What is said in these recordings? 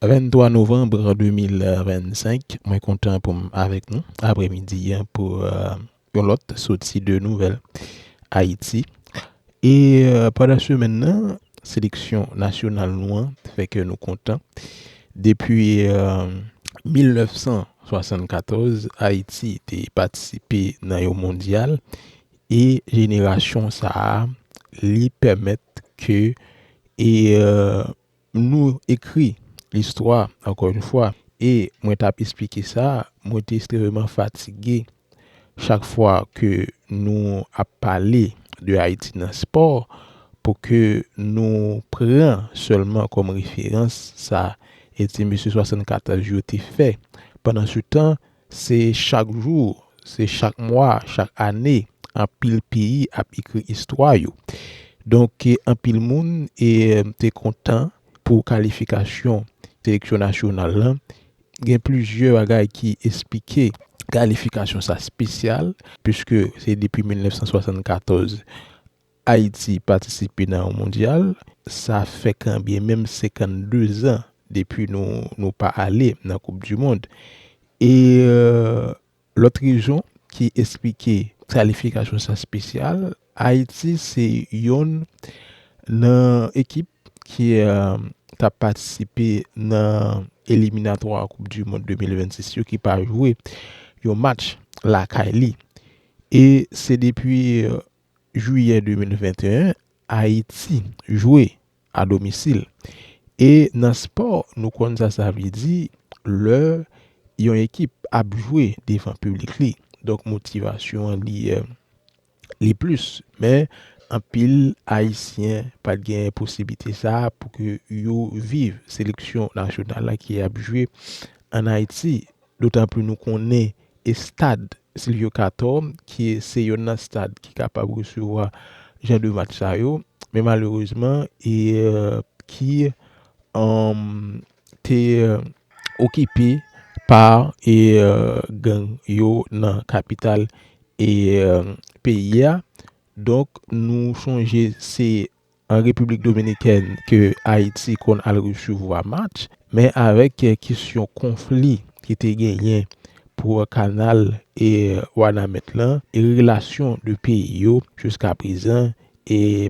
23 novanb 2025 mwen kontan pou m avèk nou aprè midi an pou yon lòt soti de nouvèl Ayiti e pandan semèn nan seleksyon nasyonal nou an fè kè nou kontan depi 1974 Ayiti te patisipe nan yon mondyal e jenerasyon sa li pèmèt ke Nou ekri listwa ankò yon fwa e mwen tap esplike sa mwen te estreveman fatige chak fwa ke nou ap pale de Ayiti nan spò pou ke nou pran sèlman kòm referans sa e ti mesye 74 yo te fè pandan se tan Se chak jou, se chak mwa, chak ane anpil peyi ap ekri istwa yo. Donk anpil moun te kontan pou kalifikasyon seleksyon nasyonal la. Gen plizyè bagay ki esplike kalifikasyon sa espesyal, puiske se depi 1974 Ayiti patisipe nan yon mondyal, sa fè kanbyen menm 52 zan depi nou pa ale nan koup di mond. E lòt rezon ki esplike kalifikasyon sa spesyal, Ayiti se yonn nan ekip ki t ap patisipe nan eliminatwa koup di mond 2026 yo ki pa jwe yon match lakay li. E se depi. Jwiyè 2021, Ayiti jwe a domisil e nan spò nou konn sa sa vle di lè yon ekip ap jwe devan piblik li. Donk motivasyon an li li plis men anpil ayisyen pat gen posiblite sa pou ke yo viv seleksyon nasyonal la ki ap jwe an Ayiti. Dotanpli nou konnen estad Sylvio Cator ki se yonn nan stad ki kapab resevwa jan de match sa yo, men malerezman e ki te okipe pa e gang yo nan kapital e peyi a. Donk nou sonje se an Repiblik Dominikèn ke Ayiti konn al resevwa match, men avèk kesyon konfli ki te genyen pou kanal Wanament lan, relasyon 2 peyi yo jiska prezan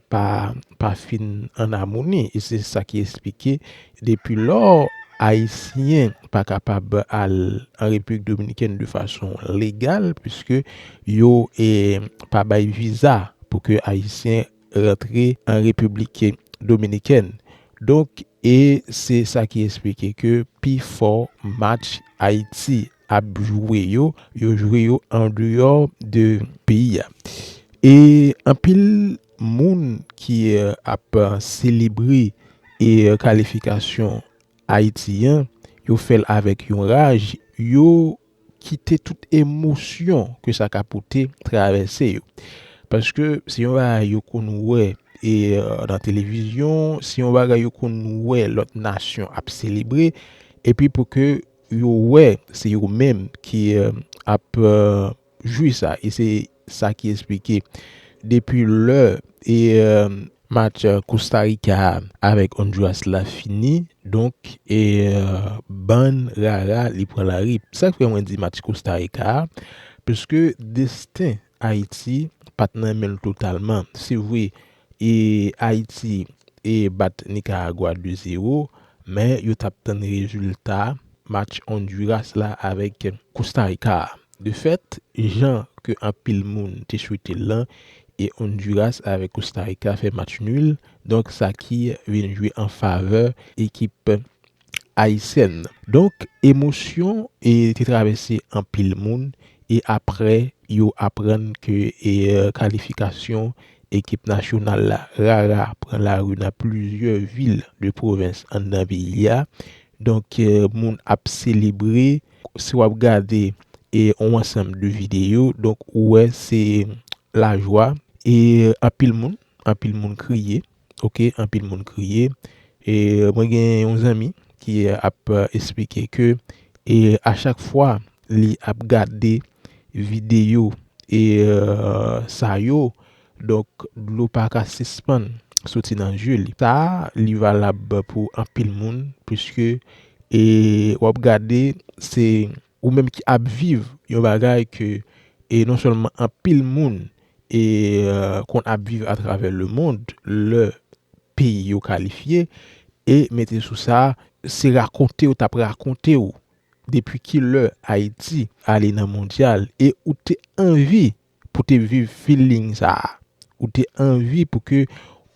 pa fin an amoni. E se sa ki esplike depi lò Ayisyen pa kapab al an Repiblik Dominikèn de fason legal, piske yo pa bay viza pou ke Ayisyen rantre an Repiblik Dominikèn. Donk e se sa ki esplike ke pi fò match Ayiti ap jwe yo, yo jwe yo an deyò de peyi a. E anpil moun ki ap selebre e kalifikasyon Ayiti an, yo fè l avèk yon raj, yo kite tout emosyon ke sa ka pote travèse yo. Paske se yon bagay yo konn wè e nan televizyon, se yon bagay yo konn wè lòt nasyon ap selebre epi pou ke yo wè se yo menm ki ap jwi sa e se Sa ki esplike depi lè match Kostarika a avèk Onduras la fini, donk bann rara li pran lari. Sa k fè mwen di match Kostarika a, pske desten Ayiti pa t nan men l totalman. Se vre, E Ayiti e bat Nikaragwa 2 zero men yo tap tann rezilta match Onduras la avèk Kostarika a. De fèt, jan ke anpil moun te swete l lan, e Onduras avèk Kostarika fè match nul, donk sa ki vin jwe an favè ekip Ayisyèn. Donk emosyon te travèse anpil moun e aprè yo aprann ke kalifikasyon ekip nasyonal la rara pran lari nan plizyè vil de pwovens anndan peyi a. Donk moun ap selebre. Si w ap gade yon ansanm de videyo, donk ou wè se lajwa e anpil moun, anpil moun kriye. ok anpil moun kriye e mwen gen yon zanmi ki ap esplike ke e a chak fwa li ap gade video e sa yo donk dlo pa ka sispann soti nan zye li sa li valab pou anpil moun puiske e wap gade se Ou menm ki ap viv yon bagay ke e non sèlman anpil moun e konn ap viv atravè lemond lè peyi yo kalifye e mete sou sa se rakonte yo t ap rakonte ou depi ki lè Ayiti ale nan mondyal e ou te anvi pou te viv feeling sa a, ou te anvi pou ke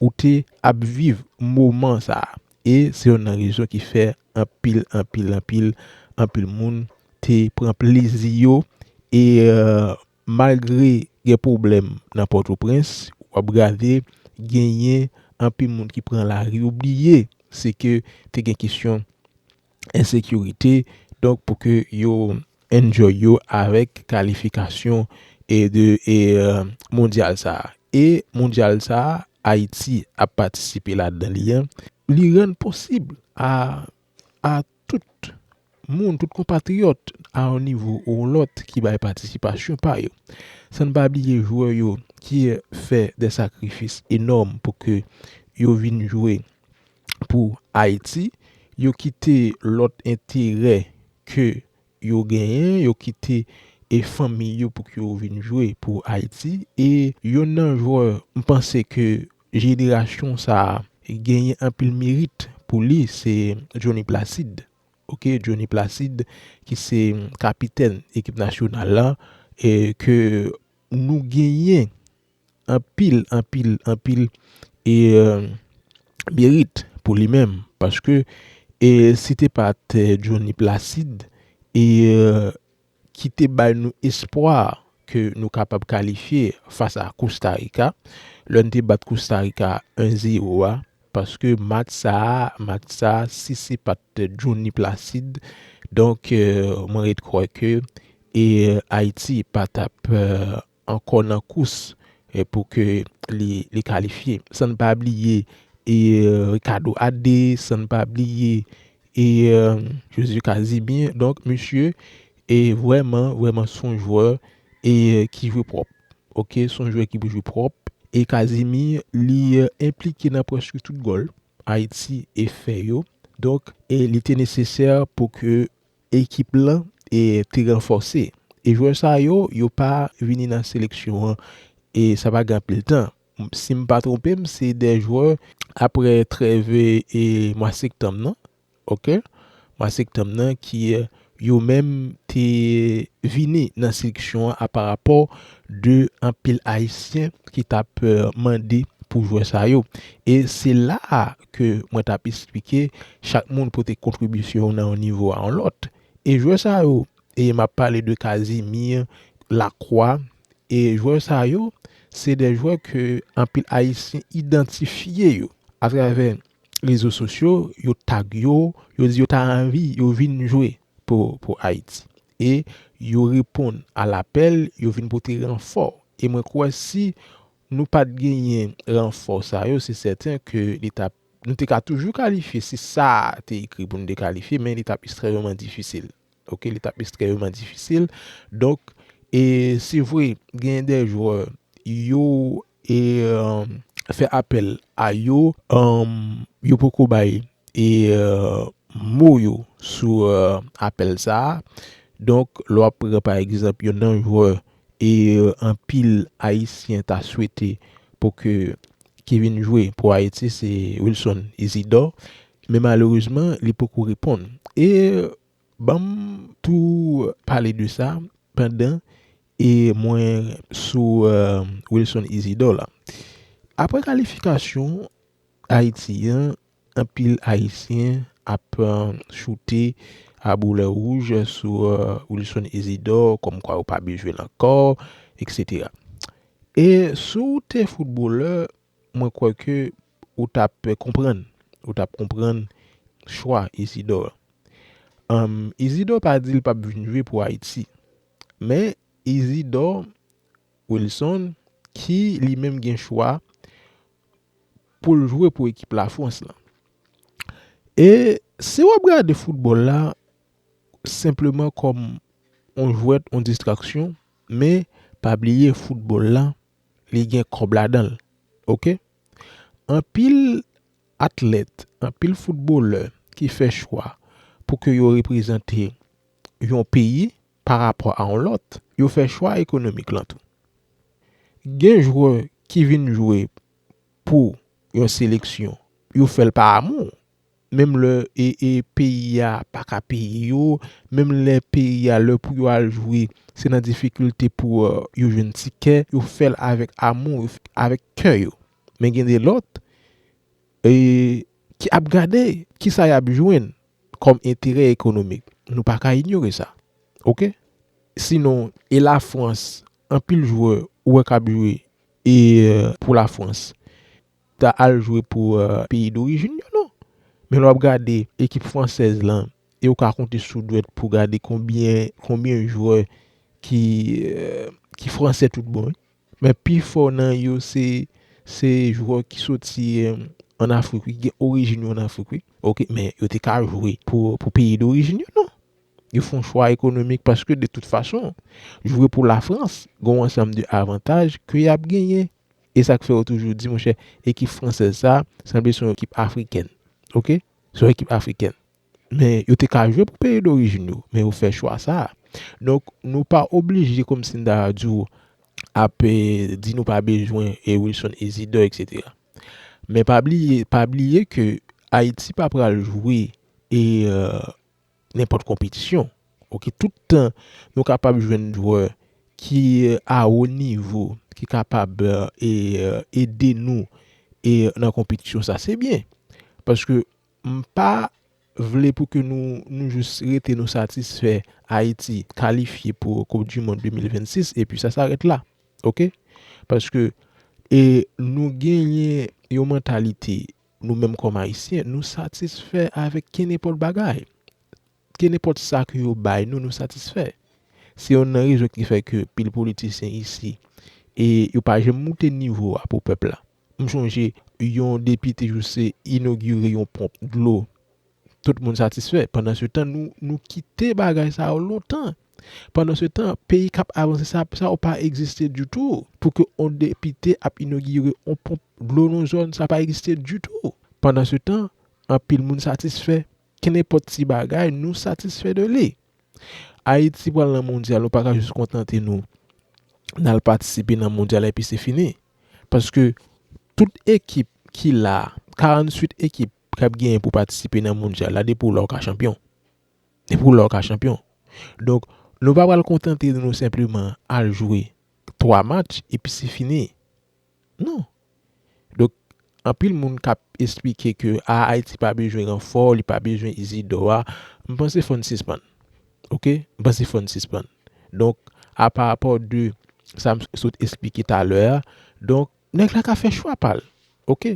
ou te ap viv moman sa a e se yonn nan rezon ki fè anpil anpil anpil anpil moun te pran plezi yo e malgre gen pwoblèm nan pòtoprens w ap gade genyen anpil moun ki pran lari ou bliye se ke te gen kesyon. ensekirite donk pou ke yo enjoy yo avèk kalifikasyon e de e mondyal sa e mondyal sa ayiti ap patisipe ladan li an li rann posib a a tout moun tout konpatriyòt a yon nivo ou yon lòt ki bay patisipasyon pa yo san n pa bliye jwè yo ki fè de sakrifis enòm pou ke yo vin jwe. pou Ayiti, yo kite lòt enterè ke yo genyen, yo kite e fanmi yo pou ke yo vin jwe pou Ayiti e yonn nan jwè m panse ke jenerasyon sa genyen anpil merit pou li se Jhonny Placide ok Jhonny Placide ki se kapitèn ekip nasyonal la e ke nou genyen. Anpil anpil anpil e merit pou li menm paske e si te pat Johnny Placide e ki te bay nou espwa ke nou kapab kalifye fas a Costa Rica lè n te bat Costa Rica 1 zero a paske match sa a match sa a si se pat Johnny Placide donk mwen ret kwè ke e Ayiti pa tap ankò nan kous pou ke li kalifye. San n pa bliye Ricardo Adde, san n pa bliye Josu Casimir. Donk misye vrèman, vrèman s on jwè ki jwe pwòp. Ok, s on jwè ki jwe pwòp. E Casimir li enplike nan prèske tout gòl Ayiti fè yo. Donk li te nesesè pou ke Ekip lan te ranfòse e jwè sa yo, yo pa vini nan seleksyon an e sa pa gen anpil tan. Si m pa twonpe m, se 2 jwè apre trèv mwa sektanm nan, ok, mwa sektanm nan ki yo menm te vini nan seleksyon an a pa rapò de anpil ayisyen ki t ap mande pou jwè sa yo. E se la a ke mwen tap esplike chak moun pote kontribisyon yo nan yon nivo a yon lòt e jwè sa yo e map pale de Casimir, Lacroix e jwè sa yo se de jwè ke anpil ayisyen idantifye yo atravè rezo sosyo yo tag yo, yo di yo ta anvi yo vin jwe pou Ayiti e yo reponn a lapèl yo vin pote ranfò e mwen kwè si nou pat genyen ranfò sa yo se sèten ke li tap nou te ka toujou kalifye si sa a te ekri pou nou te kalifye men li tap estrèmeman difisil ok li tap estrèmeman difisil donk e se vre genyen de jwè yo e fè apèl a yo yo poko bay e mo yo sou apèl sa a donk lè w ap pran pa egzanp yon nan jwè E anpil ayisyen ta swete pou ke ki vin jwe pou Ayiti se Wilson Isidor men malerezman li poko reponn. E banm tou pale de sa pandan e mwen sou Wilson Isidor la. Aprè kalifikasyon Ayiti an Anpil Ayisyen ap choute a boulè wouj sou Wilson Isidore kòmkwa yo pa bezwen l ankò eksetera. E si w te foutbolè, mwen kwè ke ou t ap konprann, ou t ap konprann chwa Isidore. Isidore pa di l p ap vin jwe pou Ayiti. Men Isidore Wilson ki li menm gen chwa pou l jwe pou ekip Lafrans lan. E si w ap gade foutbòl la senpleman kòm yon jwèt, yon distraksyon, men pa bliye foutbòl la li gen kòb ladan l oke. Anpil atlèt, anpil foutbolè ki fè chwa pou ke yo reprezante yon peyi. pa rapò a yon lòt, yo fè chwa ekonomik lan tou. Gen jwè ki vin jwe pou yon seleksyon, yo fè l pa amou, menm lè peyi a pa ka peye yo, menm lè peyi a lè pou yo al jwe se nan difikilte pou yo jwenn tikè, yo fè l avèk amou, avèk kè yo. Men gen de lòt ki ap gade kisa y ap jwenn kòm enterè ekonomik nou pa ka inyore sa ok sinon e la frans anpil jwè ou wè kap jwe e pou la frans ta al jwe pou peyi dorijin yo non men lè wap gade ekip fransèz lan e ou ka konte sou dwèt pou gade konbyen konbyen jwè ki ki fransè tout bon wi. Men pi fò nan yo se se jwè ki soti an Afrik wi, ki gen orijin yo an Afrik wi ok. Men yo te ka jwe pou peyi dorijin yo non. Yo fon chwa ekonomik paske de tout fason jwe pou Lafrans gen yon ansanm de avantaj ke yap genyen. E sak fè yo toujou di monchè ekip fransèz sa sanble se yon ekip afrikèn ok, se yon ekip afrikèn. Men, yo te ka jwe pou peyi dorijin yo, men yo fè chwa sa a. Donk, nou pa oblije kòmsi m ta di w ap di nou pa bezwen Wilson Isidor eksetera. Men pa bliye, pa bliye ke Ayiti pa pral jwe e nenpòt konpetisyon. Ok, tout tan nou kapab jwenn jwè ki a wo nivo, ki kapab ede nou e nan konpetisyon sa, se byen. Paske M pa vle pou ke nou nou jis rete nou satisfè Ayiti kalifye pou koup du mond 2026 epi sa sarèt la ok paske e nou genyen yon mantalite nou menm kòm ayisyen nou satisfè avèk kenepòt bagay kenepòt sa ke yo bay nou nou satisfè se yonn nan rezon ki fè ke pil politisyen isi e yo pa janm moute nivo a pou pèp la. M chonje yon depite Jousse inogire yon ponp dlo, tout moun satisfè. Pandansetan, nou kite bagay sa yo lontan. Pandansetan, peyi k ap avanse sa yo pa egziste ditou. Pou ke yon depite ap inogire yon ponp dlo nan yon zòn, sa pa egziste ditou. Pandansetan, anpil moun satisfè. Kenenpòt ti bagay, nou satisfè de li. Ayiti pral nan mondyal, nou pa ka jis kontante nou nan al patisipe nan mondyal epi se fini. Paske tout ekip ki la, 48 ekip k ap genyen pou patisipe nan mondyal la depi w la w ka chanpyon. Depi w la w ka chanpyon. Donk nou pa pral kontante nou senpleman al jwe 3 match epi se fini. Non. Donk anpil moun k ap esplike ke a Ayiti pa bezwen ranfò, li pa bezwen Izidò a, m panse fò n sispann. Ok, m panse fò n sispann. Donk, a pa rapò de sa m sot esplike talè a, donk, nèg la ka fè chwa pa l. Ok.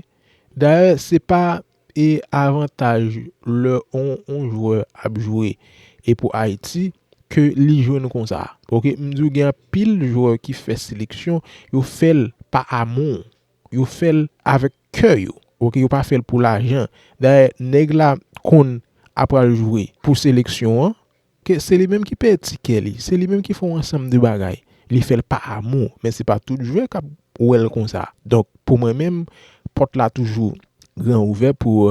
Dayè, se pa e avantaj lè yon jwè ap jwe e pou Ayiti ke li jwenn konsa. Ok. M di w gen anpil jwè ki fè seleksyon, yo fè l pa amou. Yo fè l avèk kè yo. Ok. Yo pa fè l pou lajan. Dayè, nèg la konn apral jwe pou seleksyon an, Ke se li menm ki peye tikè li, se li menm ki fè yon ansanm de bagay. Li fè l pa amou, men se pa tout jwè k ap wè l konsa. Donk, pou mwen menm, pòt la toujou gran ouvè pou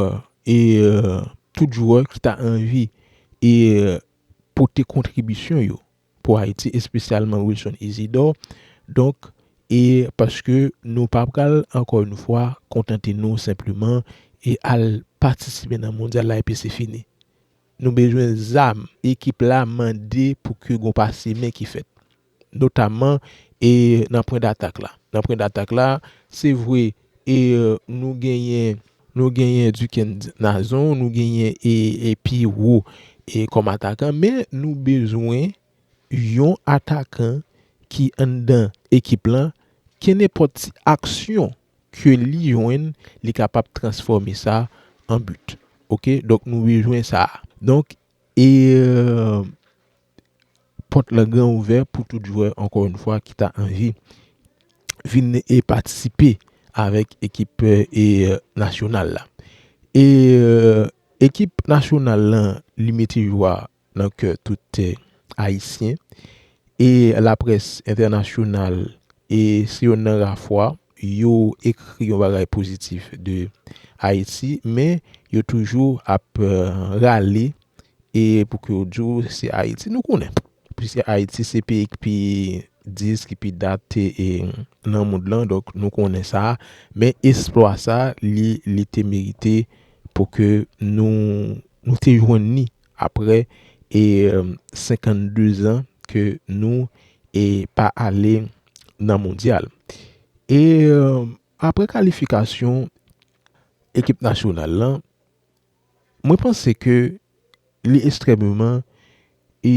tout jwè ki ta anvi pote kontribisyon yo pou Ayiti, espesyalman Wilson Isidor. Donk, e paske nou pa pral, ankò yon fwa, kontante nou senpleman e al patisipe nan mondyal la epi se fini. Nou bezwen zam, ekip la mande pou ke gon pase men ki fèt. Notamman e nan pwen datak la. Nan pwen datak la, se vre e nou genyen, nou genyen Dikens Nazon, nou genyen e Piwo e kòm atakan, men nou bezwen yon atakan ki anndan ekip lan, kenenpòt ti aksyon ke li jwenn li kapab transfòme sa an but ok donk nou bezwen sa donk e pòt lan gran ouvè pou tout jwè ankò yon fwa ki ta anvi vin e patisipe avèk ekip e nasyonal la e ekip nasyonal lan li mete jwa. nan kè tout Ayisyen e laprès entènasyonal e se yon nan ra fwa yo ekri yon bagay pozitif de Ayiti men yo toujou ap rale e pou ke yo di w se Ayiti nou konnen piske Ayiti se peyi ki pi dis ki pi date nan mond lan donk nou konnen sa men esplwa sa li te merite pou ke nou te jwenn ni aprè e 52 zan ke nou e pa ale nan mondyal. E aprè kalifikasyon ekip nasyonal lan, mwen panse ke li estrèmeman e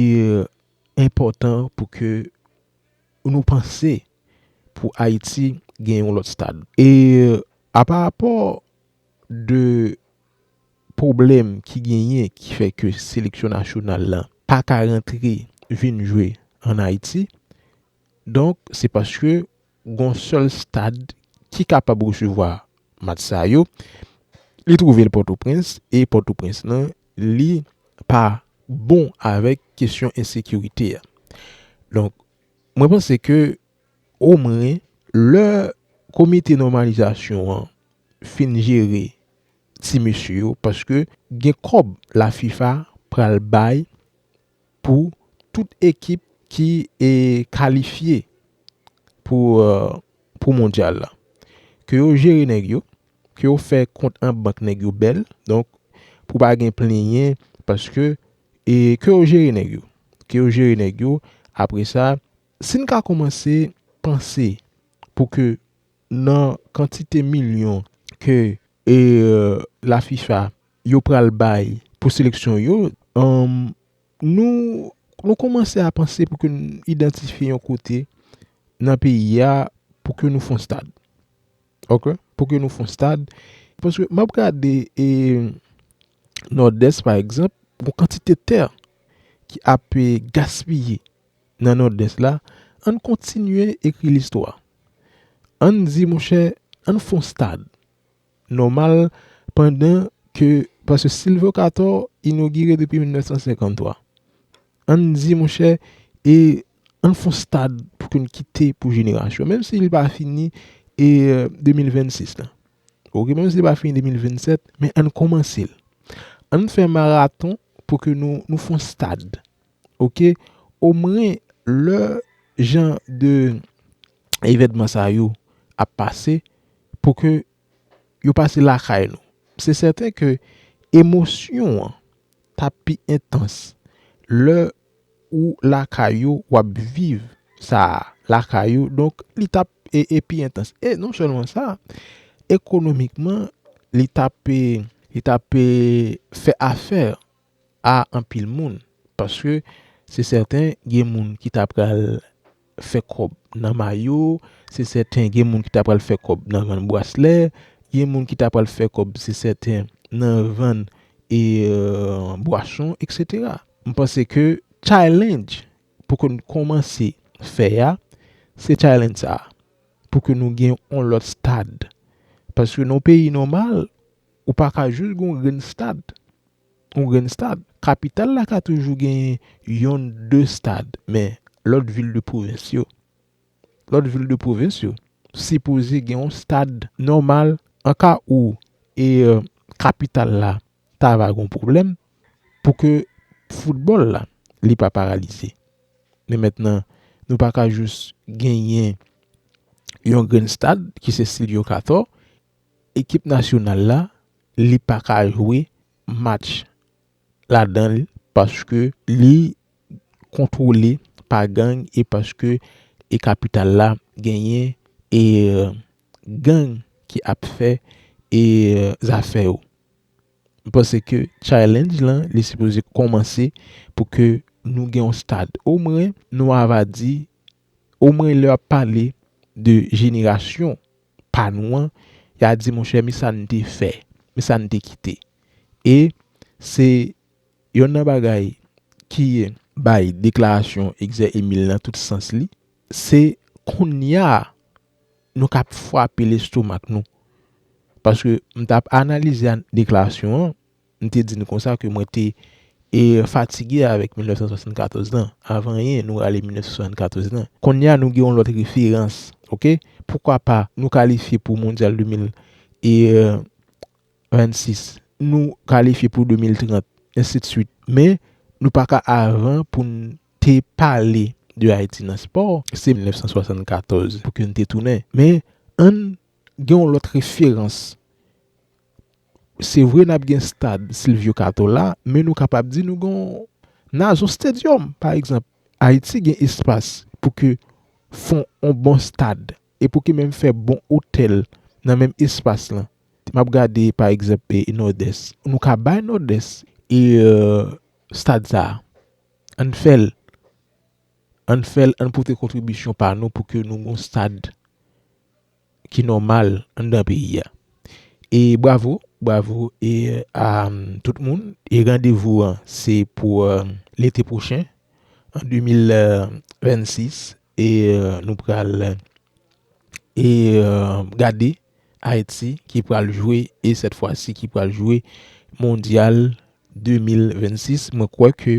enpòtan pou ke nou panse pou Ayiti gen yon lòt stad. E a pa rapò de pwoblèm ki genyen ki fè ke seleksyon nasyonal la pa ka rantre vin jwe an Ayiti. Donk, se paske gon sèl stad ki kapab resevwa match sa yo, li twouve l Pòtoprens e Pòtoprens lan li pa bon avèk kesyon ensekirite a. Donk, mwen panse ke. Omwen, lè komite nòmalizasyon an fin jere ti mesye yo, paske gen kòb la fifa pral bay pou tout ekip ki kalifye pou mondyal la. Ke yo jere nèg yo, ke yo fè kont an bank nèg yo bèl, donk pou pa gen plenyen, paske ke yo jere nèg yo, ke yo jere nèg yo, apre sa. Si n ka koumanse panse pou ke nan kantite milyon ke la fifa yo pral bay pou seleksyon yo, nou koumanse a panse pou ke n idantifye yon kote nan peyi a pou ke nou fon stad. Ok? Pou ke nou fon stad. Paske m ap gade e Nòdès pa egzanp, gon kantite tè ki ap gaspiye. nan Nòdès la, an n kontinye ekri listwa. An n di, monchè, an n fon stad, nòmal, pandan ke, paske Silvyo Katò inogire depi 1953. An n di, monchè, e an n fon stad pou ke n kite pou jenerasyon, menm si li pa fini e 2026 lan. Ok, menm si li pa fini 2027, men an n kòmanse l. An n fè maraton pou ke nou fon stad. ok omwen lè jan de evènman sa yo ap pase pou ke yo pase lakay nou se sèten ke emosyon an ta pi entans lè ou lakay yo wap viv sa lakay yo donk li ta pi entans e non sèlman sa ekonomikman li ta pe li ta pe fè afè a anpil moun paske se sèten gen moun ki ta pral fè kòb nan mayo, se sèten gen moun ki ta pral fè kòb nan vann braslè, gen moun ki ta pral fè kòb se sèten nan vann e bwason eksetera. M panse ke challenge pou ke nou kòmanse fè a se challenge sa a pou ke nou gen yon lòt stad paske nan yon peyi nòmal ou pa ka jis gen yon grenn stad. yon grenn stad. Kapital la ka toujou genyen yonn de stad men lòt vil de pwovens yo lòt vil de pwovens yo sipoze gen yon stad nòmal an ka ou e kapital la ta va gon pwoblèm pou ke foutbòl la li pa paralize men mentnan nou pa ka jous genyen yon grenn stad ki se Sylvio Cator ekip nasyonal la li pa ka jwe match ladan l paske li kontwole pa gang e paske e kapital la genyen e gang ki ap fè e zafè yo. M panse ke challenge lan li sipoze kòmanse pou ke nou gen yon stad omwen nou ava di Omwen lè yap pale de jenerasyon pa nou an, ya di monchè mi sa n te fè, mi sa n te kite. E se yonn nan bagay ki bay deklarasyon Exè Emile nan tout sans li, se konnya nou ka ap fwape lestomak nou. Paske m tap analize deklarasyon an. M te di n konsa ke mwen te fatige avèk 1974 lan. Avan anyen, nou rale 1974 lan. Kounye a nou gen yon lòt referans. Ok? Poukwa pa nou kalifye pou Mondyal 2026, nou kalifye pou 2030, ensidswit. Men, nou pa ka avan pou n te pale de Ayiti nan spò. Se 1974 pou ke n te tounen. Men, ann gen yon lòt referans. Se vre n ap gen stad Silvyo Kato la, men nou kapab di nou gen yon Nazo Stadium. Pa egzanp, Ayiti gen espas pou ke fon yon bon stad e pou ke menm fè bon otèl nan menm espas lan. M ap gade pa egzanp e Nòdès. Nou ka bay Nòdès e stad sa a. An n fè l. An n fè l, an n pote kontribisyon pa nou pou ke nou gen yon stad. ki nòmal anndan peyi a. E bravo, bravo e a tout moun e randevou an se pou lete pwochen an 2026 e nou pral e gade Ayiti ki pral jwe e sèt fwa si ki pral jwe mondyal 2026 mwen kwè ke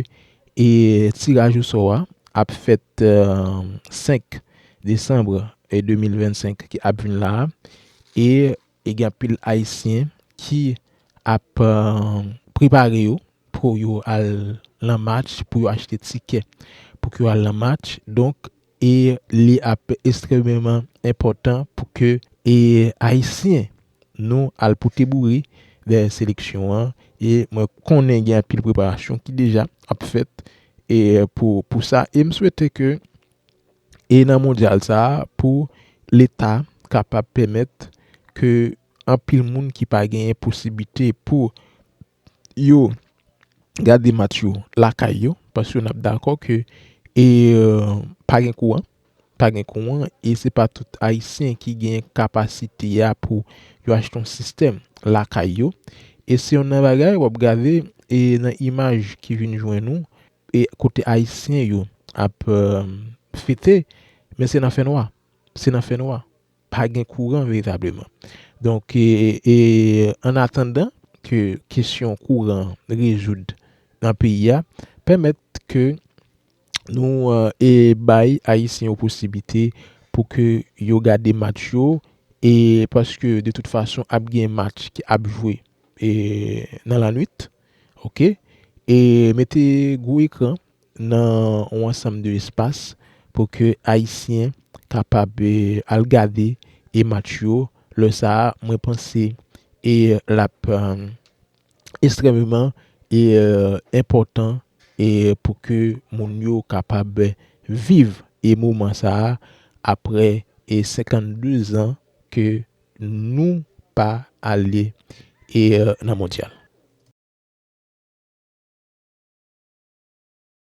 e tiraj ou sò a ap fèt 5 Desanm 2025 ki ap vin la e gen anpil ayisyen ki ap prepare yo pou yo al lan match pou yo achte tikè pou ke yo al lan match donk e li ap estrememan enpòtan pou ke e ayisyen nou al pote boure dèyè seleksyon an e mwen konnen gen anpil preparasyon ki deja ap fèt e pou pou sa e m swete ke e nan mondyal sa pou leta kapab pèmèt ke anpil moun ki pa genyen posibite pou. yo gade match yo lakay yo paske n ap dakò ke pa gen kouran, pa gen kouran e se pa tout ayisyen ki gen kapasite a pou yo achte yon sistèm lakay yo e se yon nan bagay w ap gade e nan imaj ki vin jwenn ou e kote ayisyen yo ap fete men se nan fènwa, se nan fènwa. pa gen kouran veritableman. Donk, an atandan ke kesyon kouran rezoud nan peyi a, pèmèt ke nou bay Ayisyen yo posiblite pou ke yo gade match yo, e paske de tout fason ap gen match ki ap jwe nan lanwit, ok, e mete gwo ekran. nan yon ansanm de espas pou ke ayisyen kapab al gade e match yo lè sa a mwen panse e l ap estrèmeman e enpòtan e pou ke moun yo kapab viv e moman sa a aprè e 52 zan ke Nou pa ale nan mondyal.